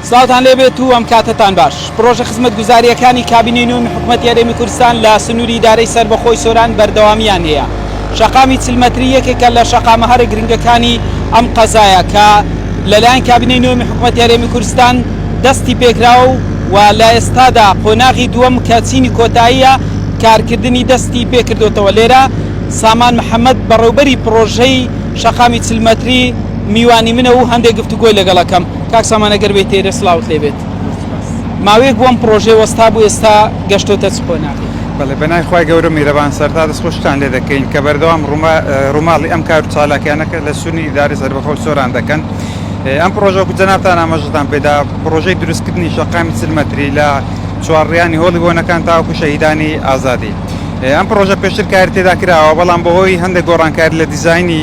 سڵاوتان لێبێت و ئەم کاتەتان باش پرۆژە خزمەتگوزاریەکانی کابینەی نوێن حکوومەت یارێمی کوردستان لە سنووری دارەی سربەخۆی سۆران بەردەوامیان هەیە شەقامی چلمەتری یەکێکە لە شەقامە هەرە گرنگەکانی ئەم قەزایە کە لەلایەن کابینەی نوێن حکوومەت یارێمی کوردستان دەستی پێکراوە و و لە ئێستادا قۆناغی دووەم کە چینی کۆتاییە کارکردنی دەستی پێکردوتەوە لێرە سامان محەممەد بەڕێوبەری پرۆژەی شەقامی چلمەتری میوانی منە و هەندێک گفتوگۆی لەگەڵ ئەکەم. کاک سامان ئەگەر بێیتێرە سڵاوت لێ بێت. ماوەیەک بوو ئەم پڕۆژەیە وەستا بوو ئێستا گەشتۆتە چ قۆناغێک؟ بەڵێ بەناوی خوای گەورە میرەبان سەرتا دەست خۆشیتان لێ دەکەین کە بەردەوام ڕووماڵی ئەم کار و چالاکیانە کە لە سونی ئیدارەی سەربەخۆی سۆران دەکەن ئەم پڕۆژە وەکو جەنابتان ئاماژەتان پێدا پڕۆژەی دروستکردنی شەقامی چل مەتری لە چوارڕیانی هۆڵی بۆنەکان تاوەکو شەهیدانی ئازادی ئەم پڕۆژە پێشتر کاری تێدا کراوە بەڵام بەهۆی هەندێک گۆڕانکاری لە دیزاینی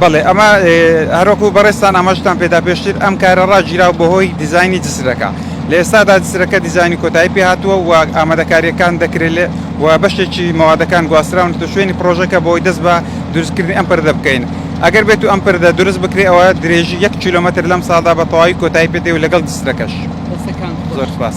بەڵێ ئەمە هەروەکو بەڕێزتان ئاماژەتان پێدا پێشتر ئەم کارە ڕاگیراوە بەهۆی دیزاینی جسرەکە لە ئێستادا جسرەکە دیزاینی کۆتایی پێهاتووە و ئامادەکارییەکان دەکرێت و بەشێکی مەوادەکان گواستراونەتە شوێنی پڕۆژەکە بۆی دەست بە دروستکردنی ئەم پردە بکەین ئەگەر بێت و ئەم پردە دروست بکرێت ئەوە درێژی یەک کیلۆمەتر لەم ساڵدا بە تەواوی کۆتایی پێدێ و لەگەڵ جسرەکەش زۆر سپاس.